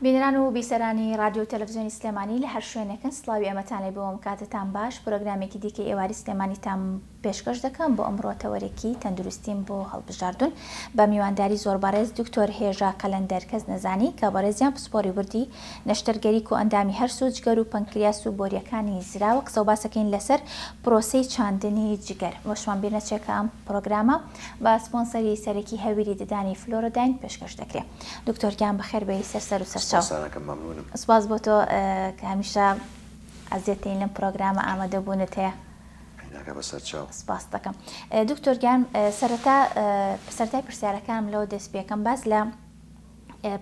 بینەران و بیسەرانی ڕادیۆ و تەلەفزیۆنی سلێمانی لە هەر شوێنێکن سڵاوی ئێمەتان لێ بووم کاتتان باش پرۆگرامێکی دیکەی ئێواری سلێمانیتان پێشکەش دەکەم بۆ ئەمڕۆ تەوەرێکی تەندروستیم بۆ هەڵبژاردون بە میوانداری زۆر بەڕێز دکتۆر هێژا قەلەندەر کەس نەزانی کە بەڕێزیان پسپۆری وردی نەشتەرگەری کۆئەندامی هەرس و جگەر و پەنکریاس و بۆریەکانی زراوە قسەو باسەکەین لەسەر پرۆسەی چاندنی جگەر ئەوەشمان بیر نەچێ کە ئەم پرۆگرامە بە سپۆنسەری سەرەکی هەویری ددانی فلۆرۆداین پێشکەش دەکرێ. دکتۆر گیان بەخێر بێی سەر سەر و سەر چاو. سپاستان ئەکەم مەمنونم. سپاس بۆ تۆ کە هەمیشە ئەزیەتین لەم پرۆگرامە ئامادە بوونت هەیە. عینەکە بە سەر چاو. سپاست دەکەم. دکتۆر گیان سەرەتا سەرەتای پرسیارەکانم لەوە دەست پێکەم باس لە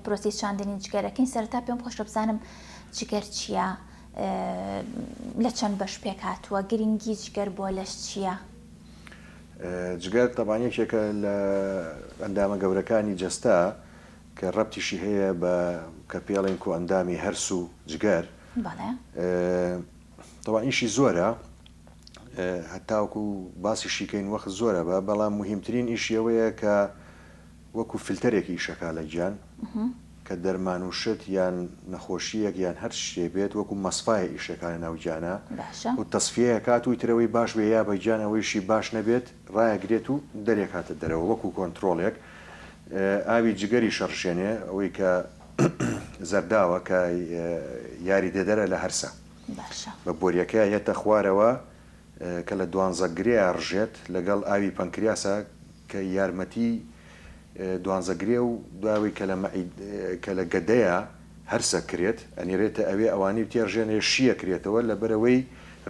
پرۆسی چاندنی جگەرەکەین سەرەتا پێم خۆشە بزانم جگەر چییە؟ لە چەند بەش پێک هاتووە؟ گرنگی جگەر بۆ لەش چییە؟ جگەر تەبعەن یەکێکە لە ئەندامە گەورەکانی جەستە کە ڕەبتیشی هەیە بە کە پێڵێن کۆئەندامی هەرس و جگەر تەوا ئیشی زۆرە هەتاوکو و باسیشیکەین وەخت زۆرە بە بەڵام مهمترین ئیشیەوەیە کە وەکو فلتەرێک ئیشەکا لە گیان کە دەرمان و شت یان نەخۆشیەک یان هەر شتێ بێت وەکو مەسفایە ئیشەکا لە ناو گیانا و تەسفیەیە کات و ترەوەی باش بێ یا بە گیان ئەوەیشی باش نەبێت ڕایەگرێت و دەرێ کاتە دەرەوە وەکو کۆنترۆڵێک ئاوی جگەریش ئەڕژێنێ ئەوەی کە زەرداوە کە یاریدەدەرە لە هەرسە بە بۆریەکەی یەتە خوارەوە کە لە دوانزە گرێیا ڕژێت لەگەڵ ئاوی پەنکریاسا کە یارمەتی دوانزە گرێ و دوای ئەوەی کە لە مەعید کە لە گەدەیا هەرسە کرێت ئەنیرێتە ئەوێ ئەوانی و تێڕژێنێ شییە کرێتەوە لەبەرەوەی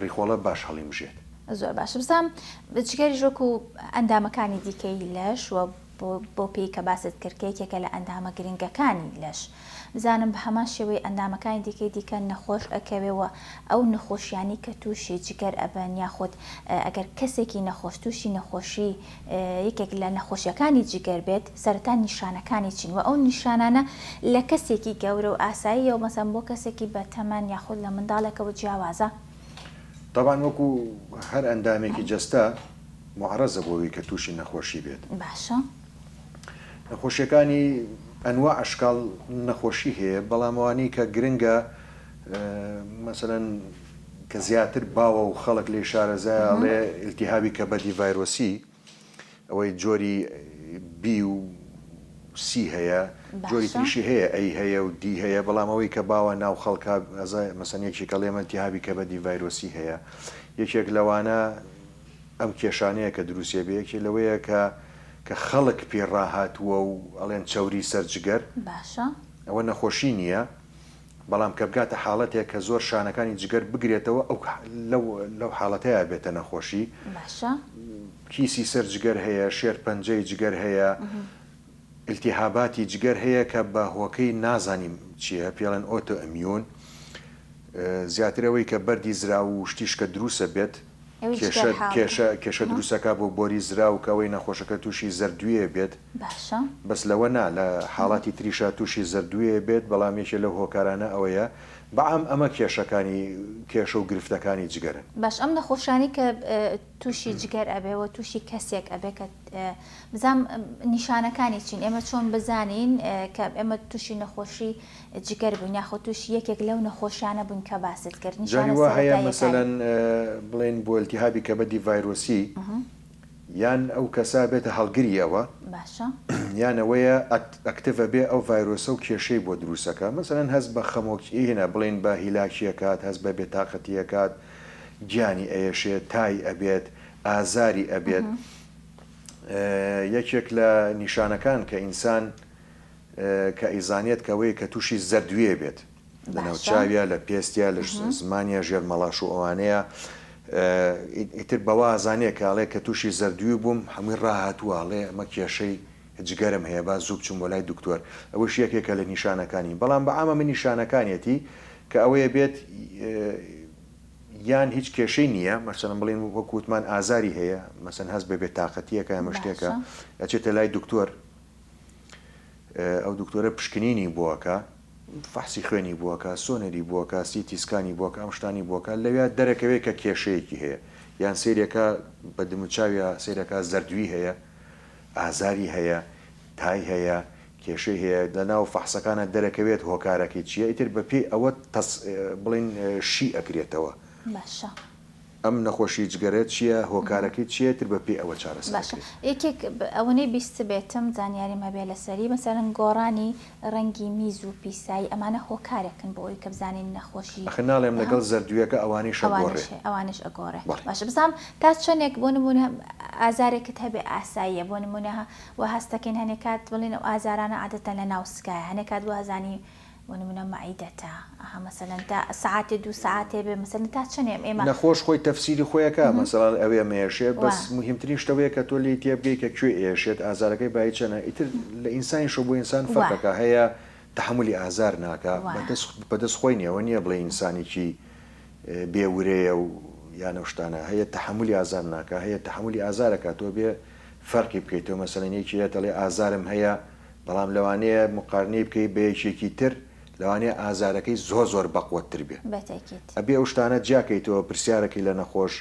ڕیخۆڵە باش هەڵیمژێت. زۆر باشە بزام جگەریش وەکو ئەندامەکانی دیکەی لەش و. بۆ پێی کە باست کرد کە یەکێکە لە ئەندامە گرنگەکانی لەش بزانم بە هەمان شێوەی ئەندامەکانی دیکەی دیکە نەخۆش ئەکەوێ و ئەو نەخۆشیانەی کە تووشی جگەر ئەبن یاخود ئەگەر کەسێکی نەخۆش تووشی نەخۆشی یەکێک لە نەخۆشیەکانی جگەر بێت سەرەتا نیشانەکانی چین و ئەو نیشانانە لە کەسێکی گەورە و ئاساییە و مەسەن بۆ کەسێکی بەتەمەن یاخود لە منداڵێکەوە جیاوازە؟ تەبعەن وەکو هەر ئەندامێکی جەستە. موعەڕەزە بۆ ئەوەی کە تووشی نەخۆشی بێت. باشە. نەخۆشیەکانی ئەنواع ئەشکاڵ نەخۆشی هەیە بەڵام ئەوانەی کە گرنگە مەسەلەن کە زیاتر باوە و خەڵک لێی شارەزایە ئەڵێ ئیلتیهابی کەبەدی ڤایرۆسی ئەوەی جۆری بی و سی هەیە جۆری تریشی هەیە ئەی هەیە و دی هەیە بەڵام ئەوەی کە باوە ناو خەڵکە ئەزای مەسەن یەکێکە ئەڵێ من ئیلتیهابی کەبەدی ڤایرۆسی هەیە یەکێک لەوانە ئەم کێشانەیە کە دروسیەبێ یەکێ لەوەیە کە کە خەڵک پێی ڕاهاتووە و ئەڵێن چەوری سەر جگەر باشە. ئەوە نەخۆشی نیە بەڵام کە بگاتە حاڵەتێک کە زۆر شانەکانی جگەر بگرێتەوە ئەو لەو لەو حاڵەتەیا بێتە نەخۆشی. باشە. کیسی سەر جگەر هەیە، شێرپەنجەی جگەر هەیە، التهاباتی جگەر هەیە کە بە هۆکەی نازانین چیە پێی ئەڵێن ئۆتۆ ئمیون زیاتر ئەوەی کە بەردی زراو و شتیش کە دروسە بێت. کێشە کێشە دروستەکا بۆ بۆری زراو کە ئەوەی نەخۆشەکە تووشی زەردووێ بێت بەس لەوە نا لە حاڵاتی تریشا تووشی زەردووێ بێت بەڵام یەکێ لەو هۆکارانە ئەوەیە بەعام ئەمە کێشەکانی کێشە و گرفتەکانی جگەرن. باش ئەم نەخۆشانی کە تووشی جگەر ئەبێ و تووشی کەسێک ئەبێ کە بزانم نیشانەکانی چین ئێمە چۆن بزانین کە ئێمە تووشی نەخۆشی جگەر بوون یاخود تووشی یەکێک لەو نەخۆشیانە بوون کە باست کرد جاری نیشانە وا هەیە سەرەتاییەکانی. مەسەلەن بڵێین بۆ التهابی کبدی ڤایرۆسی یان ئەو کەسە بێتە هەڵگری ئەوە باشە. یان ئەوەیە ئەکتڤ ئەبێ ئەو ڤایرۆسە و کێشەی بۆ دروست ئەکا مەسەلەن هەست بە خەمۆکی ئیهنە بڵێین بە هیلاکی ئەکات هەست بە بێتاقەتی ئەکات گیانی ئەیەشێ تای ئەبێت ئازاری ئەبێت یەکێک لە نیشانەکان کە ئینسان کە ئەیزانێت کە ئەوەیە کە تووشی زەردوێ بێت لە ناو چاویا لە پێستیا لە زمانیا ژێر مەڵاش و ئەوانەیە ئیتر بەوە ئازانەیە کە ئەڵێ کە تووشی زەردوی بووم هەمووی ڕاهاتووە ئەڵێ ئەمە کێشەی جگەرم هەیە با زوو بچم بۆ لای دکتۆر ئەوەش یەکێکە لە نیشانەکانی بەڵام بە عامە من نیشانەکانیەتی کە ئەوەیە بێت یان هیچ کێشەی نییە مەسەن بڵین وەکووتمان ئازاری هەیە مەسەن هەست بە بێتاقەتیەکە ئەمە شتێکە ئەچێتە لای دکتۆر ئەو دکتۆرە پشکنینی بۆکە فەحسی خوێنی بۆکە سۆنەری بۆکە سیتی سکانی بۆکە ئەم شتانی بۆکە لەویا دەرەکەوێت کە کێشەیەکی هەیە یان سێرەکە بە دموچاویا سێرەکە زەردوی هەیە ئازاری هەیە تای هەیە کێشەی هەیە لە ناو فەحسەکانە دەرەکەوێت هۆکارەکەی چییە ئیتر بەپێی ئەوە بڵین شی ئەکرێتەوە باشە ئەم نەخۆشی جگەرە چیە هۆکارەکەی چیە تر بە پێی ئەوە چارەسەر باشە ئەکرێت. یەکێک ئەوەنەی بیستبێتم زانیاریم هەبێ لەسەری مەسەلەن گۆڕانی ڕەنگی میز و پیسایی ئەمانە هۆکارێکن بۆ ئەوی کە بزانین نەخۆشی ئەخر ناڵێم لەگەڵ زەردویەکە ئەوانیش ئەگۆڕێ. ئەوانیش ئەوانیش ئەگۆڕێ بەڵێ. باشە بزانم تا چەنێک بۆ نمونە ئازارێکت هەبێ ئاساییە بۆ نمونە وا هەستەکەین هەنێ کات بڵێن ئەو ئازارانە عادەتەن لە ناو سکایە هەنێ کات وازانی بۆ نمونە مەعیدەتە ئەها مەسەلەن تا سەعاتێ دوو سەعاتێ بێ مەسەلەن تا چەنێ ئێمە. نەخۆش خۆی تەفسیری خۆی ئەکا مەسەلەن ئەوێ مەیەشێ بەس موهیمترین شتە وەیە کە تۆ لێی تێبگەی کە کوێ ئێشێت ئازارەکەی بایی چەنە ئیتر لە ئینسانیشەوە بۆ ئینسان فەرقەکا هەیە تەحەمولی ئازار ناکا بەدەس بەدەس خۆی نیە ئەوە نیە بڵێی ئینسانێکی بێ ورەیە و یان ئەو شتانە هەیە تەحەمولی ئازار ناکا هەیە تەحەمولی ئازار ئەکا تۆ بێ فەرقی بکەیتەوە مەسەلەن یەکی هەیە دەڵێ ئازارم هەیە بەڵام لەوانەیە موقارنەی بکەی بە یەکێکی تر لەوانەیە ئازارەکەی زۆر زۆر بەقوەت تر بێ ئەبێ ئەو شتانە جیا کەیتەوە پرسیارەکەی لە نەخۆش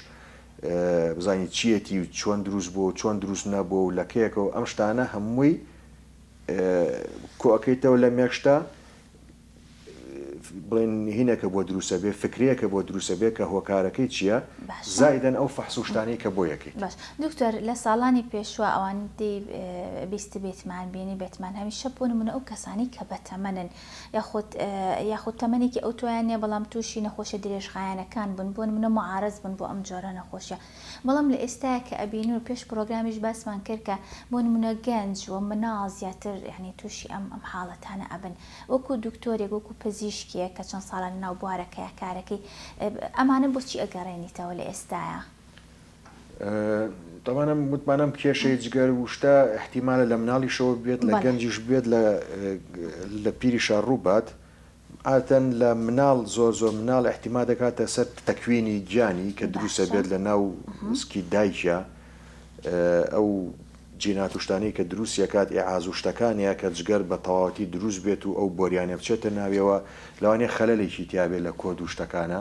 بزانی چیەتی و چۆن دروست بوو چۆن دروست نەبوو و لە کەیەکەوە ئەم شتانە هەمووی کۆکەیتەوە لە مێکشتە بڵێن هینەکە بۆ دروسە بێ فکرەیەکە بۆ دروسە بێ کە هۆکارەکەی چیە زائیدەن ئەو فەحس و شتانەی کە بۆ یەکەیت. باش دکتۆر لە ساڵانی پێشوە ئەوانەی بیستبێتمان بینیبێتمان هەمیشە بۆ نمونە ئەو کەسانەی کە بەتەمەنن یاخود یاخود تەمەنێکی ئەوتۆیان نیە بەڵام توشی نەخۆشیە درێژخایەنەکان بون بۆ نمونە معارەز بون بۆ ئەم جۆرە نەخۆشیە بەڵام لە ئێستایا کە ئەبینن و پێش پڕۆگرامیش باسمان کرد کە بۆ نموونە گەنج و مناڵ زیاتر یانی تووشی ئەم ئەم حاڵەتانە ئەبن وەکوو دوکتۆرێک وەکوو پزیشکێک کە چەند ساڵە لە ناو بوارەکەیا کارەکەی ئەمانە بۆچی ئەگەڕێنیتەوە لە ئێستایا؟ تەمان ئەم وتمان ئەم کێشەی جگەر و شتە ئیحتیمالە لە مناڵیشەوە بێت لە گەنجیش بێت لە پیریشا ڕووبات عادەتەن لە مناڵ زۆر زۆر مناڵ ئیحتیما دەکاتە سەر تەکوینی گیانی کە دروست ئەبێت لە ناو سکی دایکیا ئەو جینات و شتانەی کە دروستی ئەکات ئیعاز و شتەکانە کە جگەر بە تەواوەتی دروست بێت و ئەو بۆریانە بچێتە ناویەوە لەوانەیە خەلەلێکی تیابێت لە کۆد و شتەکانە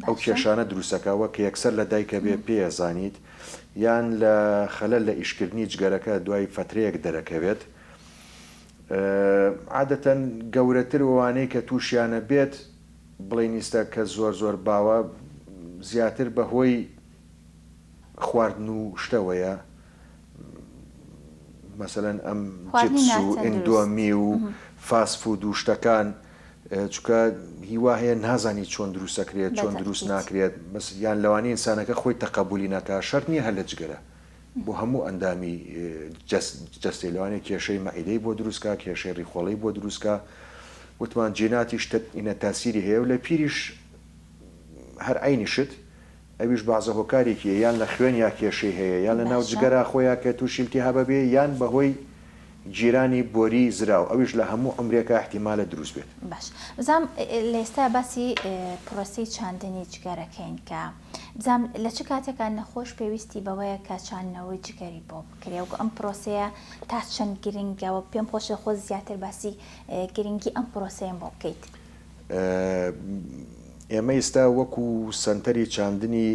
ئەو کێشانە دروست ئەکات وە کە یەکسەر لە دایکە بێ پێ ئەزانیت یان لە خەلەل لە ئیشکردنی جگەرەکە دوای فەترەیەک دەرەکەوێت. عادەتەن گەورەتر وەوانەی کە توشیانە بێت بڵینیستە کە زۆر زۆر باوە زیاتر بە هۆی خواردن و شتەوەیە مەسەلەن ئەم خواردنی چپس و ناتەندروست ئندۆمی و فاست فود و شتەکان چونکە هی وا هەیە نازانی چۆن دروست ئەکرێت بە چۆن دروست تەئکید. ناکرێت بەس یان لەوانەیە ئینسانەکە خۆی تەقەبولی نەکا شەرت نیە هەر لە جگەرە بۆ هەموو ئەندامی جەستەی لەوانەیە کێشەی مەعیدەی بۆ دروستکا کێشەی ڕیخۆڵەی بۆ دروستکا وتمان جیناتیش تاسیری هەیە و لە پیریش هەر عینی شت ئەویش بازە هۆکارێکیە یان لە خوێن یا کێشەی هەیە یان لە ناو جگەرا خۆیان کە تووشیلتی هەبە بێ یان بەهۆی گیرانی بۆری زراو ئەویش لە هەموو ئەمرێکە احتیمالە دروست بێت باش بزانام لە ئێستا باسی پرۆسی چاندنی جگەرەکەین کە جام لە چ کاتێکا نەخۆش پێویستی بەوەیە کە چاندنەوەی جگەری بۆ بکرێ و ئەم پرۆسەیە تا چەند گرنگەوە پێم خۆشە خۆ زیاتر باسی گرنگی ئەم پرۆسەیەم بۆ بکەیت. ئێمە ئیستا وەکو سەنتەری چاندنی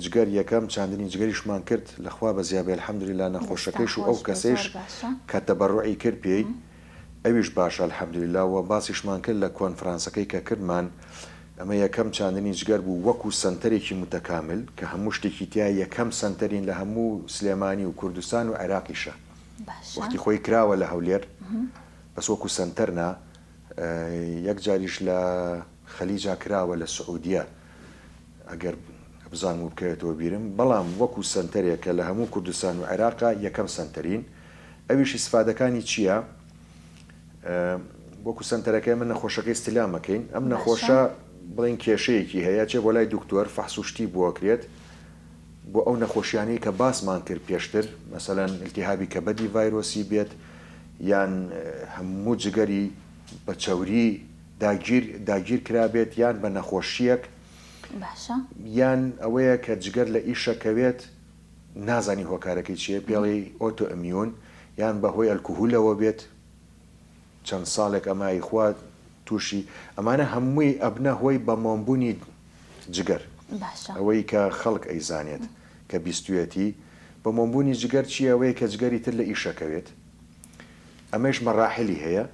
جگەر یەکەم چاندنی جگەریشمان کرد لە خوا بەزیابێ الحمدللە نەخۆشەکەیش و ئەو کەسەیش کە تەبەڕوعی کرد پێی ئەویش باشە الحمدللە وە باسیشمان کرد لە کۆنفرانسەکەی کە کردمان ئەمە یەکەم چاندنی جگەر بوو وەکو سەنتەرێکی موتەکامل کە هەموو شتێکی تیا یەکەم سەنتەرین لە هەموو سلێمانی و کوردستان و عێراقیشە وەختی خۆی کراوە لە هەولێر بەس وەکو سەنتەر نا یەک جاریش لە خەلیجا کراوە لە سعودیە ئەگەر بزانم و بکەوێتەوە بیرم، بەڵام وەکو سەنتەرێک کە لە هەموو کوردستان و عێراقا یەکەم سەنتەرین، ئەویش ئیسفادەکانی چییە؟ وەکو سەنتەرەکە ئێمە نەخۆشەکەی ستیلام ئەکەین، ئەم نەخۆشە بڵێن کێشەیەکی هەیە ئەچێ بۆ لای دکتۆر فەحس و شتی بۆ ئەکرێت، بۆ ئەو نەخۆشیانەی کە باسمان کرد پێشتر، مەسەلەن ئیلتیهابی کەبەدی ڤایرۆسی بێت، یان هەموو جگەری بە چەوری داگیر داگیر کرابێت، یان بە نەخۆشییەک. باشە. یان ئەوەیە کە جگەر لە ئیشە کەوێت نازانی هۆکارەکەی چیە پێڵێی ئۆتۆ ئمیون یان بە هۆی ئەلکوهولەوە بێت چەند ساڵێک ئەما ئیخوا تووشی ئەمانە هەمووی ئەبنە هۆی بە مۆمبونی جگەر ئەوەی کە خەڵک ئەیزانێت کە بیستویەتی بە مۆمبونی جگەر چی ئەوەیە کە جگەری تر لە ئیشەکەوێت ئەمەیش مەراحیلی هەیە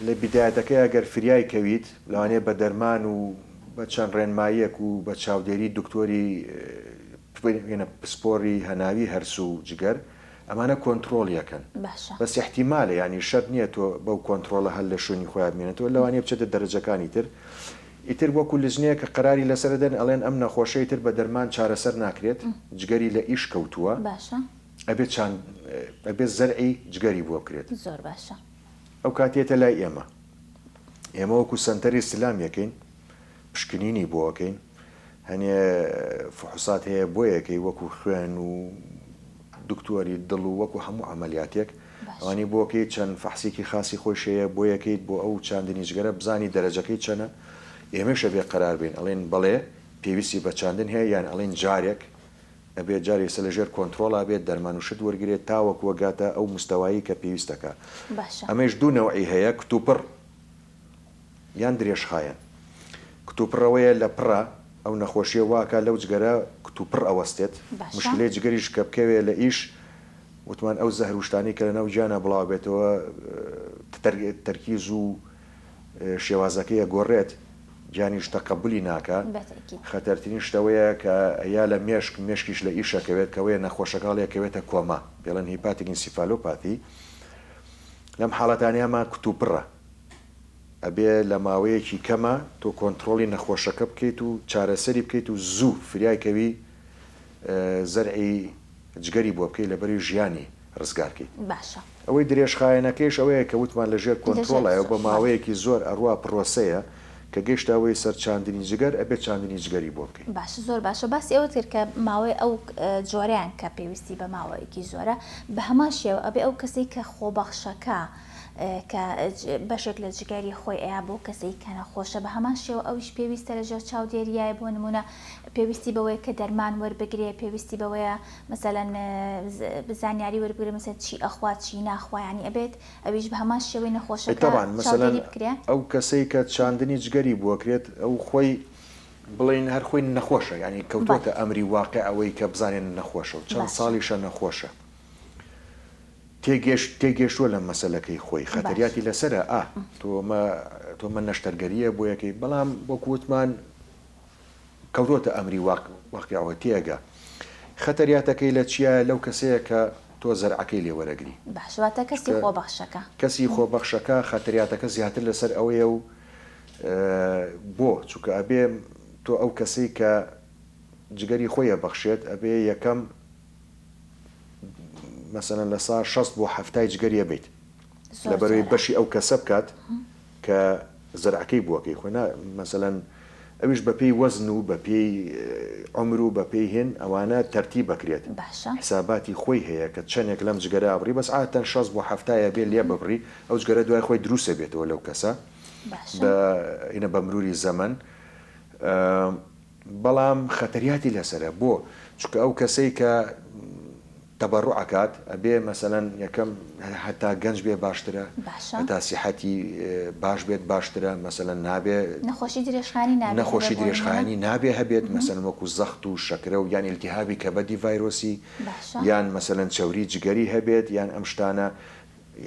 لە بیدایەتەکەی ئەگەر فریای کەویت لەوانەیە بە دەرمان و بە چەند ڕێنماییەک و بە چاودێری دکتۆری پێێنە پسپۆری هەناوی هەرسو و جگەر ئەمانە کۆنتترۆلیەکەن بە سیحتیمالە ینی شەر نییە تۆ بەو کۆنتترۆلە هەر لە شوێنی خۆیان بمێنێتەوە لەوانەیە بچێتە دەرەجەکانی تر ئیتر وەکو لزنەیە کە قەراری لەسەردەن ئەڵێن ئەم نەخۆشەی تر بە دەرمان چارەسەر ناکرێت جگەری لە ئیش کەوتووە ئەبێت چاند ئەبێت زەرعی جگەری بۆ بکرێت. زۆر باشە. ئەو کات یەتە لای ئێمە. ئێمە وەکو سەنتەری سلام یەکەین پشکنینی بۆ ئەکەین هەنێ فحوسات هەیە بۆ یەکەی وەکو خوێن و دکتۆری دڵ و وەکو هەموو عملیاتێک ئەوانی بۆکەی چەند فەحسێکی خاصی خۆی شەیە بۆ یەکەیت بۆ ئەو چاندنی جگەرە بزانی دەرەجەکەی چەنە ئێمەشە بێ قەرار بین ئەڵێن بەڵێ پێویستی بە چاندن هەیە یان ئەڵین جارێک ئەبێت جار یسە لە ژێر کۆنترۆڵا بێت دەرمان و شت وەرگرێت تاوەکو ئەگاتە ئەو مستەوایەی کە پێویستە کە باشە. ئەمەیش دوو نەوعی هەیە کتوپڕ یان درێژخایەن کتوپڕ ئەوەیە لە پڕا ئەو نەخۆشیە وا ئەکات لەو جگەرە کتوپڕ ئەوەستێت باشە. مشکلەی جگەریش کە بکەوێت لە ئیش وتمان ئەو زەهر و شتانەی کە لە ناو گیانا بڵاوە بێتەوە تەرکیز و شێوازەکەی ئەگۆڕێت گیانی شتە قەبولی ناکا خەتەرترین شتەوەیە کە یا لە مێشک مێشکیش لە ئیش ئەکەوێت کەوەیە نەخۆشەکە هەڵی ئەکەوێتە کۆما پێڵێن هیپاتیک ئینسیفالۆپاتی لەم حاڵەتانیامان کوتوپڕە ئەبێ لە ماوەیەکی کەمە تۆ کۆنترۆڵی نەخۆشەکە بکەیت و چارەسەری بکەیت و زوو فریای کەوی زەرعی جگەری بۆ بکەی لەبری ژیانی ڕزگار کەی باشە. ئەوەی درێژخایەنەکەیش ئەوەیە کە وتمان لەژێر کۆنترۆڵایە و بە ماوەیەکی زۆر ئەڕوا پڕۆسەیە کە گەیشتە هۆی سەر چاندنی جگەر ئەبێت چاندنی جگەری بۆ بکەی. باشە زۆر باشە باسی ئەوەت کرد کە ماوەی ئەو جۆرەیان کە پێویستی بە ماوەیەکی زۆرە بە هەمان شێوە ئەبێ ئەو کەسەی کە خۆبەخشەکە کە بەشێک لە جگەری خۆی ئەیا بۆ کەسەی کە نەخۆشە بە هەمان شێوە ئەویش پێویستە لەژێر چاودێریایە بۆ نموونە پێویستی بەوەیە کە دەرمان وەربگرێ پێویستی بەوەیە مەسەلەن زانیاری وەربگرێ مەسەلەن چی ئەخوا چی ناخوا یانی ئەبێت ئەویش بە هەمان شێوەی نەخۆشەکە چاودێری بکرێ. تەبعەن مەسەلەن ئەو کەسەی کە چاندنی جگەری بوەکرێت ئەو خۆی بڵێین هەر خۆی نەخۆشە یانی کەوتووەتە ئەمری واقع ئەوەی کە بزانێ نەخۆشە و چەند ساڵیشە نەخۆشە تێگەشت تێگەشتووە لە مەسەلەکەی خۆی خەتەریاتی لەسەرە ئا تۆ مە تۆ مە نەشتەرگەرییە بۆیەکەی بەڵام وەکو وتمان کەوتۆتە ئەمری واق واقیعەوە تێئەگا خەتەریاتەکەی لە چیایە لەو کەسەیە کە تۆ زەرعەکەی لێ وەرەگری باشە واتە کەسی چونکە خۆبەخشەکە کەسی خۆ بەخشەکە خەتەریاتەکە زیاتر لەسەر ئەوەیە و بۆ چونکە ئەبێ تۆ ئەو کەسەی کە جگەری خۆی ئەبەخشێت ئەبێ یەکەم مەسەلەن لە سا شەست بۆ حەفتای جگەری ئەبەیت. زۆر لەبەر ئەوەی جارە. بەشی ئەو کەسە بکات کە زەرعەکەی بووە کەی خۆی نا مەسەلەن ئەویش بە پێی وەزن و بە پێی عومر و بە پێی هێن ئەوانە تەرتیب ئەکرێت باشە. حساباتی خۆی هەیە کە چەنێک لەم جگەرە ئەبڕی بەس عادەتەن شەست بۆ حەفتا یە بێ لێ ببڕی ئەو جگەرە دوای خۆی دروست ئەبێتەوە لەو کەسە باشە. بە ئینە بە مروری زەمەن بەڵام خەتەریاتی لەسەرە بۆ چونکە ئەو کەسەی کە تەبەڕوع ئەکات ئەبێ مەسەلەن یەکەم هەتا گەنج بێ باشترە باشە. هەتا سیحەتی باش بێت باشترە مەسەلەن نابێ نەخۆشی درێژخایەنی نابێ هەبێ نەخۆشی بۆ نموونە؟ درێژخایەنی نابێ هەبێت مەسەلەن وەکو زەخت و شەکرە و یان ئیلتیهابی کەبەدی ڤایرۆسی باشە. یان مەسەلەن چەوری جگەری هەبێت یان ئەم شتانە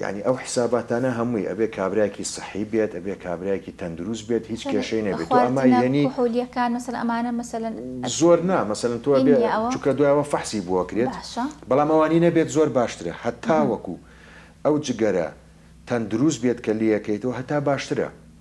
یانی ئەو حساباتانە هەمووی ئەبێ کابرایەکی سەحی بێت ئەبێ کابرایەکی تەندروست بێت هیچ کێشەی نەبێت تۆ ئەما خواردنە یەنی کحولیەکان مەسەلەن ئەمانە مەسەلەن زۆر نا مەسەلەن تۆ ئەبێ هینیە ئەوە چونکە دوای ئەوە فەحسی بۆ ئەکرێت باشە. بەڵام ئەوانی نەبێت زۆر باشترە هەتاوەکو ئەو جگەرە تەندروست بێت کە لێیەکەیتەوە هەتا باشترە.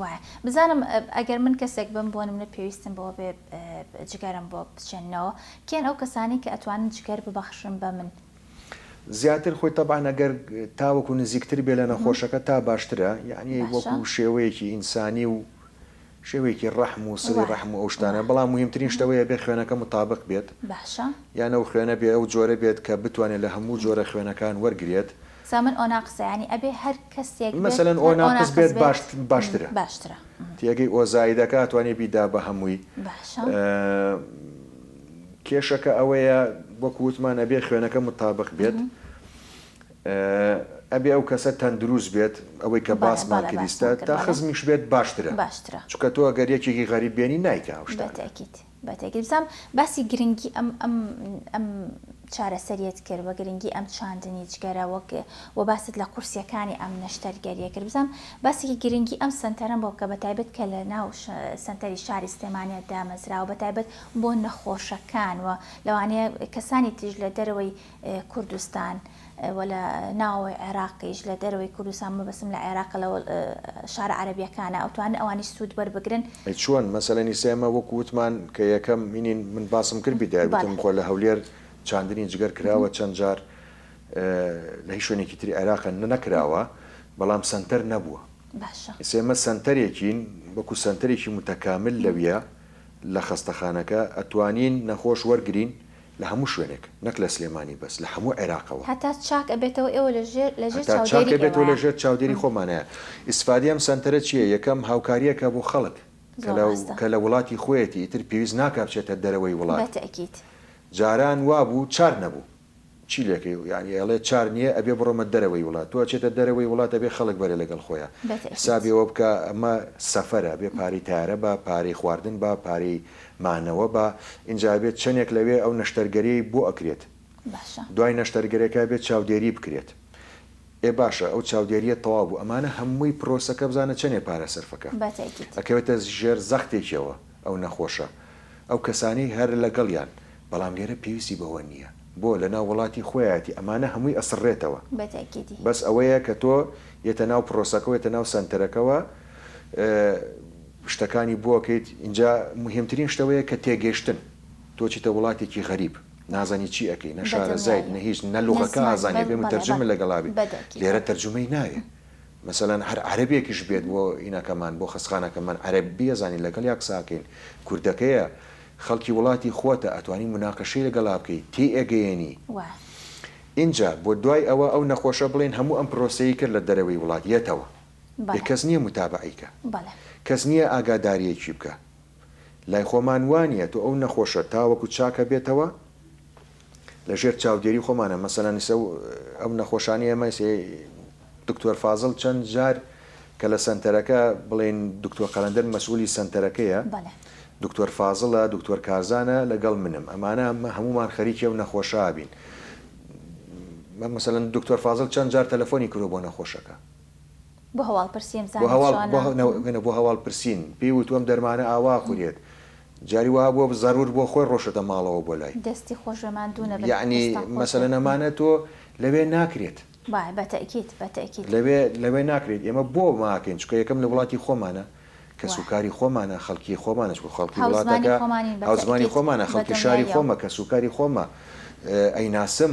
وایە بزانم ئەگەر من کەسێک بم بۆ نمونە پێویستم بەوە بێ جگەرم بۆ بچێننەوە کێن ئەو کەسانی کە ئەتوانن جگەر ببەخشن بە من؟ زیاتر خۆی تەبعەن ئەگەر تاوەکو نزیکتر بێ لە نەخۆشەکە تا باشترە یانی وەکو شێوەیەکی ئینسانی و شێوەیەکی ڕەحم و سڵی ڕەحم و ئەو شتانە بەڵام مهمترین شتەوەیە بێ خوێنەکە متابق بێت یانە و خوێنە بێ ئەو جۆرە بێت کە بتوانێت لە هەموو جۆرە خوێنەکان وەرگێت سامن ئۆناقسە یانی ئەبێ هەر کەسێک بێت مەسەلەن هەر ئۆناقس ئۆناقس بێت بێت باشت باشترە باشترە تێگەی ئۆزایدەکە ئەتوانی بیدا بە هەمووی باشە. کێشەکە ئەوەیە وەکو وتمان ئەبێ خوێنەکە متابق بێت ئەبێ ئەو کەسە تەندروست بێت ئەوەی کە بەڵێ باسمان بەڵێ کریستە باسمان کرد تا بەڵێ خزمیش بێت باشترە باشترە چونکە تۆ گەر یەکێکی غەریب بێنی نایکا ئەو شتانە. بەتەئکید. بە تێگەیشتم باسی گرنگی ئەم ئەم ئەم چارەسەریت کرد و گرنگی ئەم چاندنی جگەرە وەک و باست لە قورسیەکانی ئەم نەشتەرگەریە کرد بزانم باسێکی گرنگی ئەم سەنتەرم بۆ بکە بە تایبەت کە لە ناو سەنتەری شاری سلێمانیت دامەزراوە بە تایبەت بۆ نەخۆشەکان و لەوانەیە کەسانی تریش لە دەرەوەی کوردستان و لە ناوەوەی عێراقیش لە دەرەوەی کوردستان مەبەستم لە عێراقە لە شارە عەرەبیەکانە ئەتوانن ئەوانیش سود وەربگرن. ئەی چۆن مەسەلەن ئیسە ئێمە وەکو وتمان کە یەکەم مینین من باسم کرد بیدای وتم خۆ لە هەولێر چاندنی جگەر کراوە چەند جار لە هیچ شوێنێکی تری عێراقە نەکراوە بەڵام سەنتەر نەبووە ئیسە ئێمە سەنتەرێکین وەکو سەنتەرێکی متەکامل لەویە لە خەستەخانەکە ئەتوانین نەخۆش وەرگرین لە هەموو شوێنێک نەک لە سلێمانی بەس لە هەموو عێراقەوە. هەتا چاک ئەبێتەوە ئێوە لە ژێر لە ژێر هەتا چاک چاودێری ئێوە ئەبێتەوە لە ژێر چاودێری خۆمانە ئیسفادەی ئەم سەنتەرە چیە یەکەم هاوکاریەکە بۆ خەڵک کە زۆر لە ڕاستە کە لە وڵاتی خۆیەتی ئیتر پێویست ناکا بچێتە دەرەوەی وڵات بەتەئکید. جاران وابوو چار نەبوو. چی لێکەی و یانی ئەڵێ چار نیە ئەبێ بڕۆمە دەرەوەی وڵات تۆ ئەچێتە دەرەوەی وڵات ئەبێ خەڵک بەرێ لەگەڵ خۆیا بەتەئکید. حسابی ئەوە بکە ئەمە سەفەرە ئەبێ پارەی تەیارە با پارەی خواردن با پارەی مانەوە با ئینجا ئەبێت چەنێک لەوێ ئەو نەشتەرگەریەی بۆ ئەکرێت باشە. دوای نەشتەرگەرێکە ئەبێت چاودێری بکرێت ئێ باشە ئەو چاودێریە تەواو بوو ئەمانە هەمووی پرۆسەکە بزانە چەنێ پارە سەرفەکە بە تەئکید. ئەکەوێتە ژێر زەختێکیەوە ئەو نەخۆشە ئەو کەسانەی هەر لەگەڵیان بەڵام لێرە پێویستی بەوە نیە بۆ لەناو وڵاتی خۆیاتی ئەمانە هەمووی ئەسڕێتەوە بە تەئکیدی. بەس ئەوەیە کە تۆ یەتە ناو پرۆسەکەوە یەتە ناو سەنتەرەکەوە ئە. شتەکانی بۆ ئەکەیت ئینجا مهمترین شت ئەوەیە کە تێگەشتن تۆ چیتە وڵاتێکی غەریب نازانی چی ئەکەی نە شارەزایت نە هیچ نە لوغەکە ئازانی ئەبێ مترجم لەگەڵا بی لێرە ترجمەی ناوێ مەسەلەن هەر عەرەبێکیش بێت بۆ ئینەکەمان بۆ خەسخانەکەمان عەرەب بی ئەزانی لەگەڵیا قسە ئەکەین کوردەکەیە خەڵکی وڵاتی خۆتە ئەتوانی مناقەشەی لەگەڵا بکەی تێی ئەگەیەنی ئینجا بۆ دوای ئەوە ئەو نەخۆشە بڵێن هەموو ئەم پرۆسەی کرد لە دەرەوەی وڵات یەتەوە یە کەس نیە متابەعەی کە کەس نیە ئاگاداریەکی بکە لای خۆمان وانیە تۆ ئەو نەخۆشە تاوەکو چاک ئەبێتەوە لە ژێر چاودێری خۆمانە مەسەلەن ئیسە ئەو نەخۆشانی ئێمە دکتۆر فازل چەند جار کە لە سەنتەرەکە بڵێن دکتۆر قەلەندەر مەسئولی سەنتەرەکەیە دکتۆر فازلە دکتۆر کارزانە لەگەڵ منم ئەمانە هەمومان خەریکی و نەخۆشابین مەمەسەن دکتۆر فازل چەند جار تەلەفۆنی کرۆ بۆ نەخۆشەکە بۆ هەواڵ پرسیم بۆ زانت هەواڵ بۆ چۆنە. هە نەوە گەنە بۆ هەواڵ پرسین پێی وتوە ئەم دەرمانە ئاوا ئەخورێت جاری وا بوە زەرور بۆ خۆی ڕۆشتە ماڵەوە بۆ لای دەستی خۆشبێ ماندوو نەبن یەعنی دەستان خۆش بێ. مەسەلەن ئەمانە تۆ لەوێ ناکرێت با بە تەئکید بە تەئکید. لەوێ لەوێ ناکرێت ئێمە بۆ ماکەین چونکە یەکەم لە وڵاتی خۆمانە کەس و وە. کاری خۆمانە خەڵکی خۆمانە چونکە خەڵکی هاوزمانی وڵاتەکە خۆمانین بە هاوزمانی تەئکید خۆمانە بە خەڵکی شاری دڵنیاییەوە. خۆمە کەس و کاری خۆمە ئەیناسم.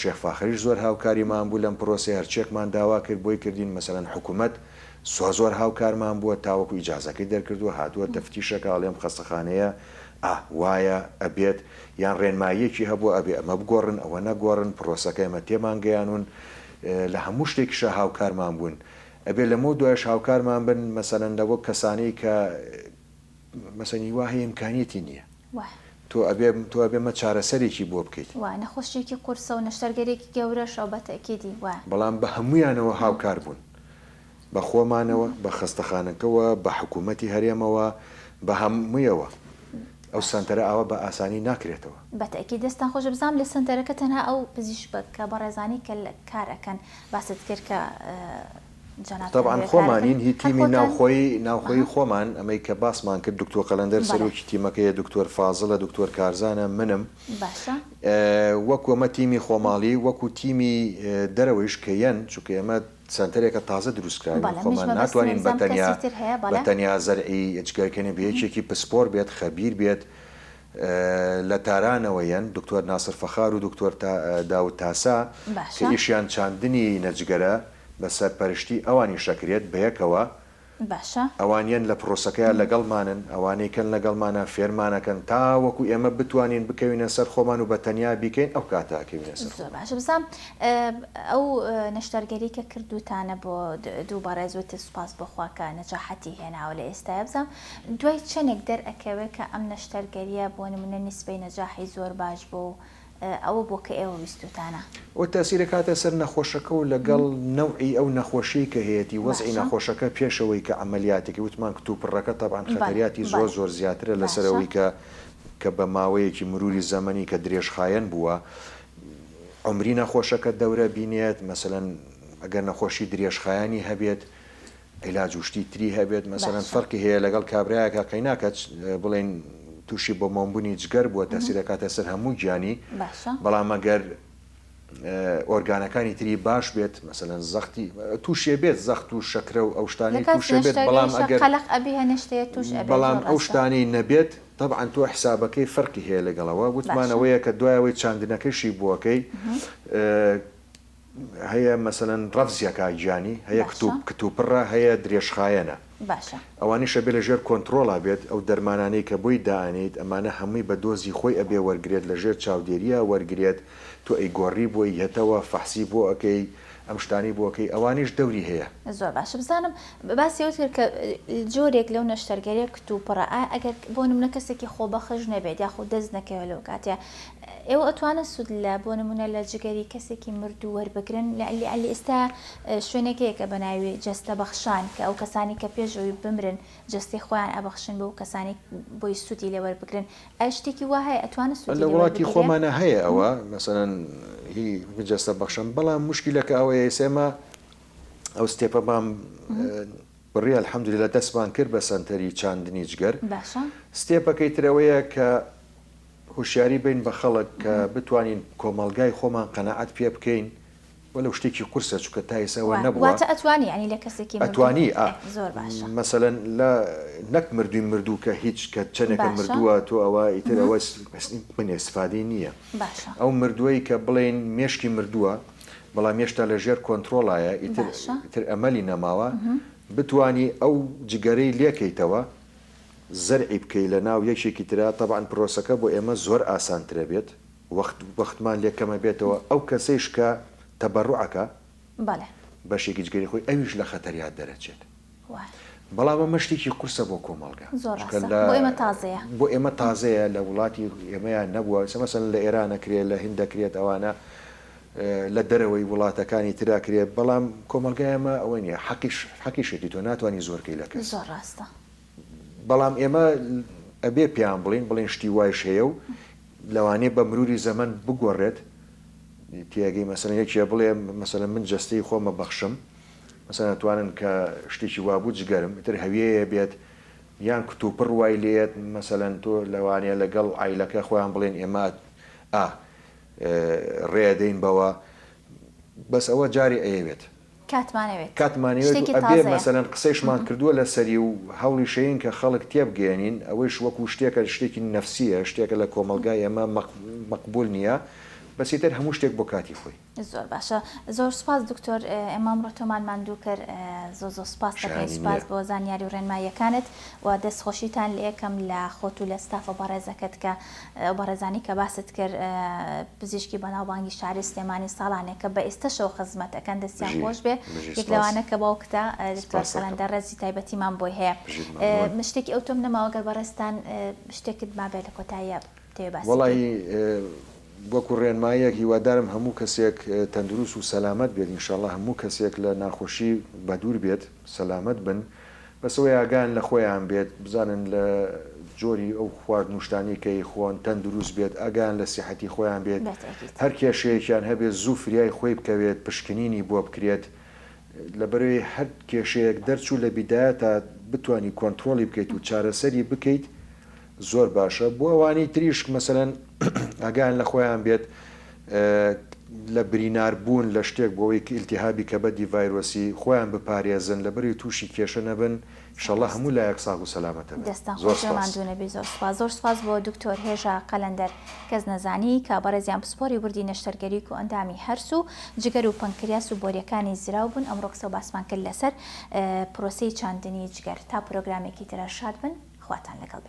شێخ فاخریش زۆر هاوکاریمان بوو لەم پرۆسەیە هەرچیەکمان داوا کرد بۆی کردین مەسەلەن حکومەت زۆر زۆر هاوکارمان بووە تاوەکو ئیجازەکەی دەرکردووە هاتووە تەفتیشەکە ئەڵێم خەستەخانەیە ئا وایە ئەبێت یان ڕێنماییەکی هەبووە ئەبێ ئەمە بگۆڕن ئەوە نەگۆڕن پرۆسەکە ئێمە تێمان گەیانوون لە هەموو شتێکیشا هاوکارمان بوون ئەبێ لەمەو دوایش هاوکارمان بن مەسەلەن لەوە کەسانەی کە مەسەن هیوا هەیە ئیمکانیەتی نیە واه. تۆ ئەبێ تۆ ئەبێ مە چارەسەرێکی بۆ بکەیت. وە نەخۆشیەکی قورسە و نەشتەرگەرێکی گەورەشە بە تەئکیدی وە. بەڵام بە هەموویانەوە هاوکار بوون بە خۆمانەوە بە خەستەخانەکەوە بە حکوومەتی هەرێمەوە بە هە موویەوە ئەو سەنتەرە ئاوا بە ئاسانی ناکرێتەوە. بە تەئکید دەستتان خۆش بزانم لە سەنتەرەکە تەنها ئەو پزیشبکە بەڕێزانەی کە کار ئەکەن باست کرد کە. جەنابتان تەبعەن هۆکارەکەت خۆمانین هی هەر تیمی خۆتان ناوخۆی ناوخۆی ئەها. خۆمان ئەمەی کە باسمان کرد دکتۆ قەلەندەر بەلێ. سەرۆکی تیمەکەیە دکتۆر فازڵە دکتۆر کارزانە منم باشە. ئە وەکو ئەمە تیمی خۆماڵی وەکو تیمی ئە دەرەوەیش کە یەن چونکە ئێمە سەنتەرێکە تازە دروست کراوین بەلێ منیش خۆمان مەبەستمە ناتوانین بزانم بەتەنیا کەسی تر هەیە بەلێ. بەتەنیا زەرعی جگەر کەنێ بە یەکێکی پسپۆر بێت خەبیر بێت ئە لە تارانەوە یەن دکتۆر ناسر فەخار و دکتۆر تا داود تاسا کە باشە. ئیشیان چاندنی نە جگەرە بە سەرپەرشتی ئەوانیش ئەکرێت بەیەکەوە باشە. ئەوانیان لە پرۆسەکەیا لەگەڵمانن ئەوانەی کەن لەگەڵمانە فێرمان ئەکەن تاوەکو ئێمە بتوانین بکەوینە سەر خۆمان و بە تەنیا بیکەین ئەو کاتە ئەکەوینە سەر زۆر خۆمان. باشە بزام ئەو نەشتەرگەری کە کردوتانە بۆ دوو بەڕێز وتت سوپاس بۆ خوا کە نەجاحەتی هێناوە لە ئێستایا بزام دوای چەنێک دەر ئەکەوێ کە ئەم نەشتەرگەریە بۆ نمونە نیسبەی نەجاحی زۆر باش بوە و ئەوە بۆ کە ئێوە ویستوتانە. ئەو تاسیرە کاتە سەر نەخۆشەکە و لەگەڵ نەوعی ئەو نەخۆشیەی کە هەیەتی وەزعی باشە. نەخۆشەکە پێش ئەوەی کە عەمەلیاتەکەی وتمان کتوپڕەکە تەبعەن بەڵێ خەتەریاتی زۆر بەڵێ زۆر زیاترە لەسەر باشە. ئەوەی کە کە بە ماوەیەکی مروری زەمەنی کە درێژخایەن بووە عەمری نەخۆشەکە دەورە بینێت مەسەلەن ئەگەر نەخۆشی درێژخایەنی هەبێت عیلاج و شتی تری هەبێت مەسەلەن فەرقی هەیە لەگەڵ کابرایەکە قەینا کە بڵێن تووشی بۆ مۆمبوونی جگەر بووە تاسیرەکاتە سەر هەموو گیانی بەڵام مەگەر ئۆرگانەکانی تری باش بێت مەسەەن زەختی تووشێ بێت زەخت و شەکرە و ئەو شتانی تووشێ بێت بەڵام ئەگەر بەڵام ئەو شتانی نەبێت تەبعاان تۆ حسابەکەی فەرقی هەیە لەگەڵەوە وتمانەوەیە کە دوایەوەی چاندنەکەشی بووەکەی هەیە مەسەلەن ڕەفزیە کاک گیانی هەیە باشە. کتوپ کتوپڕە هەیە درێژخایەنە باشە. ئەوانیش ئەبێ لە ژێر کۆنتڕۆڵا بێت ئەو دەرمانانەی کە بۆی دائەنێیت ئەمانە هەمووی بە دۆزی خۆی ئەبێ وەرگرێت لە ژێر چاودێریا وەرگرێت تۆ ئەی گۆڕی بۆی یەتەوە فەحسی بۆ ئەکەی ئەم شتانەی بۆ ئەکەی ئەوانیش دەوری هەیە. زۆر باشە بزانم باسی ئەوەت کرد کە جۆرێک لەو نەشتەرگەریە کتوپڕە ئایا ئەگەر بۆ نمونە کەسێکی خۆبەخش نەبێت یاخود دەست نەکەوێت لەو کاتەیا ئێوە ئەتوانن سود لە بۆ نمونە لە جگەری کەسێکی مردو وەربگرن لەعلی ئیستا شوێنێک هەیە کە بەناوی جەستە بەخشان کە ئەو کەسانی کە پێش ئەوی بمرن جەستەی خۆیان ئەبەخشن بەو کەسانی بۆی سودی لێ وەربگرن ئایا شتێکی وا هەیە ئەتوانن سودی لێ وەربگرێ؟ لە وڵاتی خۆمانا هەیە ئەوە مەسەلەن هی جەستە بەخشان بەڵام موشکیلەکە ئەوەیە ئیستا ئێمە ئەو ستێپە بام بڕی الحمدللە دەستمان کرد بە سەنتەری چاندنی جگەر باشە. ستێپەکەی تر ئەوەیە کە هۆشیاری بین بە خەڵک کە بتوانین کۆمەڵگای خۆمان قەناعەت پێ بکەین وەلەو شتێکی قورسە چونکە تا ئێستا ئەوە نەبووە. واتە ئەتوانی یانی لە کەسێکی مردوو. ئەتوانی ئا زۆر باشە. مەسەلەن لە نەک مردووی مردوو کە هیچ کە چەنێکە مردووە تۆ ئەوە ئیتر ئەوە من ئێستفادەی نییە. باشە. ئەو مردووەی کە بڵێین مێشکی مردووە بەڵام هێشتا لە ژێر کۆنترۆڵایە ئیتر ئیتر ئەمەلی نەماوە بتوانی ئەو جگەرەی لێکەیتەوە زەرعی بکەی لە ناو یەکێکی ترا تەبعەن پرۆسەکە بۆ ئێمە زۆر ئاسان ترە بێت وەخت وەختمان لێ کەمە بێتەوە ئەو کەسەیش کە تەبەروع ئەکا بەڵێ بەشێکی جگەری خۆی ئەویش لە خەتەریا دەرەچێت وایە بەڵام ئەمە شتێکی قورسە بۆ کۆمەڵگا زۆر چونکە ڕاستە لە بۆ ئێمە تازەیە بۆ ئێمە تازەیە لە وڵاتی ئێمەیان نەبووە سە مەسەلەن لە ئێران ئەکرێ لە هند ئەکرێت ئەوانە اه، لە دەرەوەی وڵاتەکانی تر ئەکرێ بەڵام کۆمەڵگای ئێمە ئەوە نییە حەقیش حەقیشێتی تۆ ناتوانی زۆر کەی لە کەس زۆر ڕاستە بەڵام ئێمە ئەبێ پێیان بڵێین بڵێن شتی وایش هەیە و لەوانەیە بە مروری زەمەن بگۆڕێت تێگەی مەسەن یەکێ بڵێ مەسەن من جەستەی خۆمە بەخشم مەسەن توانن کە شتێکی وابوو جگەرم تر هەویەیە بێت یان کتوپڕ وای لێت مەسەن تۆ لەوانەیە لەگەڵ ئایلەکە خۆیان بڵێن ئێمە ئا ڕێدەین بەوە بەس ئەوە جارێ ئەیەوێت کاتمانەوێت کاتمانەوێت و شتێکی ئەبێ تازەیە. مەسەلەن قسەیشمان کردووە لەسەری و هەوڵیشەین کە خەڵک تێبگەیەنین ئەوەیش وەکو شتێکە شتێکی نەفسیە شتێکە لە کۆمەڵگای ئێمە مەق مەقبول نیە بەس ئیتر هەموو شتێک بۆ کاتی خۆی. زۆر باشە زۆر سوپاس دکتۆر ئێمە ئەمڕۆ تۆمان ماندوو کرد زۆ زۆ سوپاست دەکەین شایانی نییە. سوپاس بۆ زانیاری و ڕێنماییەکانت و دەست خۆشیتان لێ ئەکەم لە خۆت و لە ستافە بەڕێزەکەت کە ئەو بەڕێزانەی کە باست کرد پزیشکی بەناوبانگی شاری سلێمانی ساڵانێکە بە ئێستەشەوە خزمەت ئەکەن دەستیان بژی خۆش بێ بژی یەک سپاس لەوانە کە باوکتە دکتۆر سپاس ئەکەم قەلەندەر ڕێزی تایبەتیمان بۆی هەیە بژیت مەمنون من شتێکی ئەوتۆم نەماوە گەر بەڕێزتان شتێکت مابێ لە کۆتاییا بتەوێ باسی وەڵایی بکەی. وەکو ڕێنماییەک هیوادارم هەموو کەسێک تەندروست و سەلامەت بێت انشاللە هەموو کەسێک لە ناخۆشی بەدوور بێت. سەلامەت بن بەس ئەوەی ئاگایان لە خۆیان بێت بزانن لە جۆری ئەو خوارد نوشتانەی کە ئەیخۆن تەندروست بێت ئاگایان لە سیحەتی خۆیان بێت هەر کێشەیەکیان هەبێت زوو فریای خۆی بکەوێت پشکنینی بۆ بکرێت لەبەرەی هەر کێشەیەک دەرچوو لە بیدایەتا بتوانی کۆنترۆڵی بکەیت و چارەسەری بکەیت زۆر باشە بۆ ئەوانی تریش مەسەلەن ئاگایان لە خۆیان بێت لە برینار بوون لە شتێک بۆ ئەوەی ئیلتیهابی کەبەدی ڤایرۆسی خۆیان بپارێزن لە بەری تووشی کێشە نەبن ئیشەڵا هەموو لایەک ساغ و سەلامەت ئەبن دەستتان زۆر خۆش بێ سوپاس. ماندوو نەبی زۆر سوپاس. زۆر سوپاس بۆ دکتۆر هێژا قەلەندەر کەس نەزانی کە بەڕێزیان پسپۆری وردی نەشتەرگەری کۆئەندامی هەرس و جگەر و پەنکریاس و بۆریەکانی زراو بوون ئەمڕۆ قسەو باسمان کرد لەسەر پرۆسەی چاندنی جگەر تا پرۆگرامێکی ترە شاد بن خواتان لەگەڵ بێت.